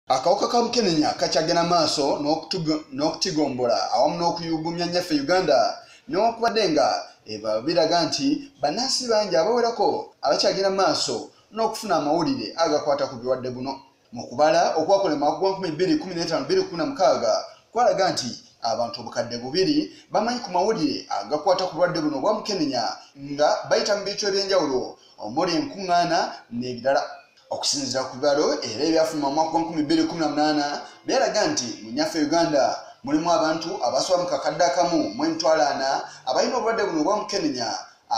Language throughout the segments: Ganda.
Akawuka ka mukenenya kakyagenda maaso n'okutigombula awamu n'okuyugumya nyaffe Uganda newakubadde nga eba biraga nti bannansi bangi abawerako abakyagenda maaso n'okufuna amawulire agakwata ku bulwadde buno mu kubala okwakola mu mwaka gwa 2025 kwalaga nti abantu obukadde bubiri bamanyi ku mawulire agakwata ku bulwadde buno obwa mukenenya nga bayita mu bintu eby'enjawulo omuli enkuŋŋaana n'ebirala okusinzira ku bibalo era ebyafuluma omwaka wa 2018 byalaga nti mu nyaffe uganda mulimu abantu abasoba mu kakadde akamu mu emitwalo ana abalina obulwadde buno obwamukenenya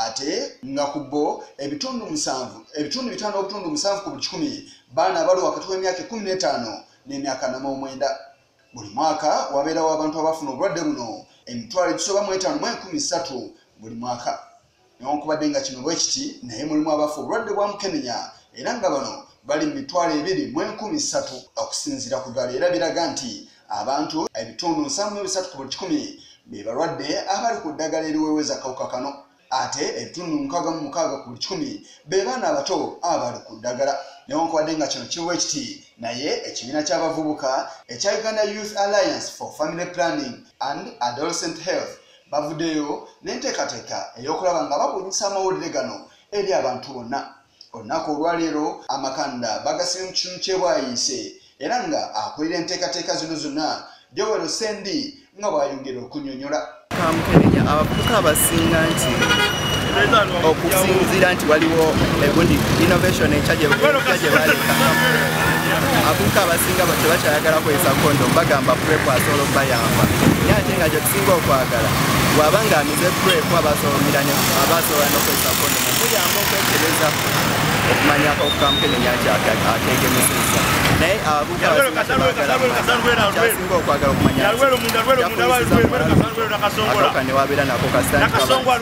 ate nga ku bo ebitundu musanvu ebitundu bitaano obutundu musanvu ku buli kikumi baana abali wakati w'emyaka ekumi n'etaano n'emyaka nama omwenda buli mwaka wabeerawo abantu abafuna obulwadde buno emitwalo egisoba mu etaano mu enkumi ssatu buli mwaka newankubadde nga kino bwekiti naye mulimu abafa obulwadde bwa mukenenya era nga bano bali mu mitwalo ebiri mu enkumi ssatu okusinziira ku ddwala era biraga nti abantu ebitundu nsamu mu ebisatu ku buli kikumi be balwadde abali ku ddagala eriweeweza kawuka kano ate ebitundu mukaaga mu mukaaga ku buli kikumi be baana abato abali ku ddagala newankubadde nga kino kiwa ekiti naye ekibiina ky'abavubuka ekya uganda youth alliance for family planning and adolescent health bavudeyo n'enteekateeka ey'okulaba nga babunyisa amawulire gano eri abantu bonna olunaku olwaleero amakanda bagasibye mu kitundu kyebwayiise era nga akulira enteekateeka zino zonna jowero sendi nga bwayongera okunyonyola kamukebenya abavubuka abasinga nti okusinziira nti waliwo egundi innovation ekya gye baleka abavubuka abasinga tebakyayagala kwesa kondo bagamba prepasoolo bayamba naye ate nga singa okwagala waba nga amize preku abasomiranya abasobola nokozesa kondomu kuyamba okwekebeza okumanya akakukamukenenya nti akegemeseza naye abukasinga okwagala okumanyaaka newabeera nako kasagamba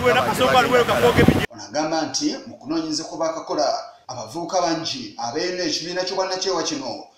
nti mu kunoonyereza kwe bakakola abavubuka bangi abeerina ekibiina ky'obwannakyewa kino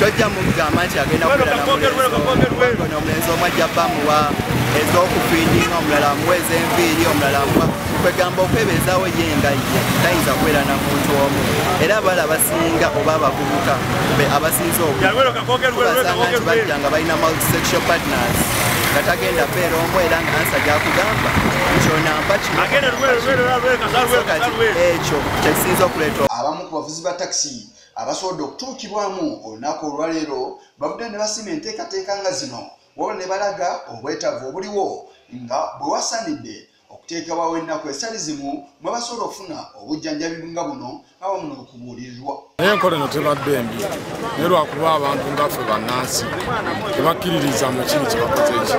tojja mugamba nti agenda kubeerano omulenzi omu ajja bamuwa ez'okufiidinga omulala amuwa ez'enviiri omulala amuwa kwegamba okwebeezawo ye nga ye tayinza kubeera na muntu omu era abala abasinga oba abavubuka be abasinza okubasanga nti bajja nga balina multisexual partners nga tagenda beera omu era nga ansa gyakugamba kyonampa kinokati ekyo kyekisinza okuleeta abamu ku bavuzi ba takisi Abasobodde okutuukibwamu olunaku olwaleero bavuddeyo ne basiima enteekateeka nga zino wabula ne balaga obwetaavu obuliwo nga bwe wasaanidde okuteekebwawo ennaku ezitali zimu mwe basobola okufuna obujjanjabi nga buno awamu n'okubuulirirwa naye enkola eno tebadde embi naye lwakuba abantu ngaffe bannansi tebakkiririza mu kiri kyebakoze eki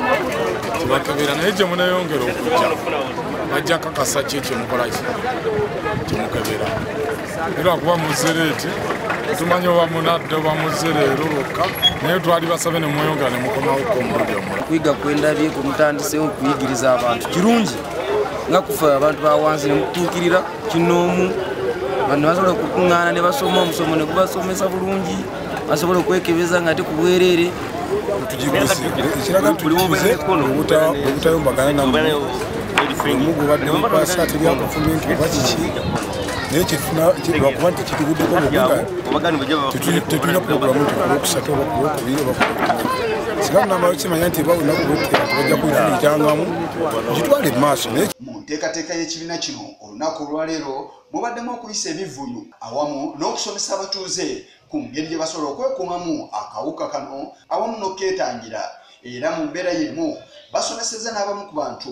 tebakebera naye gye muneyongera okujja bajja kakasa ki ekyo mukola ki kyemukebera lwakuba muzereeti tumanya oba munadde oba muze leero lwokka naye twali basabe ne mweyongera ne mukomawoko omulundi omula kuyiga kwendabye ku mutandisewo okuyigiriza abantu kirungi nga kufe abantu bawansi ne mukutuukirira kinoomu bantu basobola okukuŋŋaana ne basoma omusomo ne gubasomesa bulungi basobola okwekebeza nga te ku bwereere tugigisekiragaobutayombagana namu omugubaddemukwasaatebyakufuminti oba kiki naye kyetuna lwakuba nti kituguddeko tetulina pulogulamu nti kulwokusatu oba kulwokubiri oba singa tunamala kimanya nti ba lunaku lwokera tubajja kuijangamu kitwale mu maaso naye mu nteekateeka y'ekibiina kino olunaku olwaleero mubaddemu okuyisa ebivuyo awamu n'okusomesa abatuuze ku ngeri gye basobola okwekuumamu akawuka kano awamu n'okukeetangira era mu mbeera y'emu basomeseza n'abamu ku bantu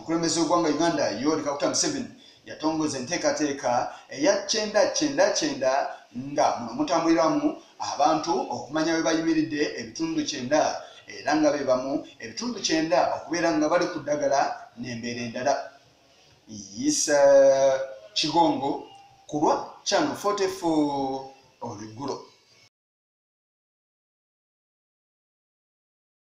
Omukulembeze w'eggwanga Uganda Yoweri Kaguta Museveni yatongoza enteekateeka eya kyenda kyenda kyenda nga muno mutambuliramu abantu okumanya bwe bayimiridde ebitundu kyenda era nga be bamu ebitundu kyenda okubeera nga bali ku ddagala n'embeera endala yisa kigongo ku lwa channel 44 olweggulo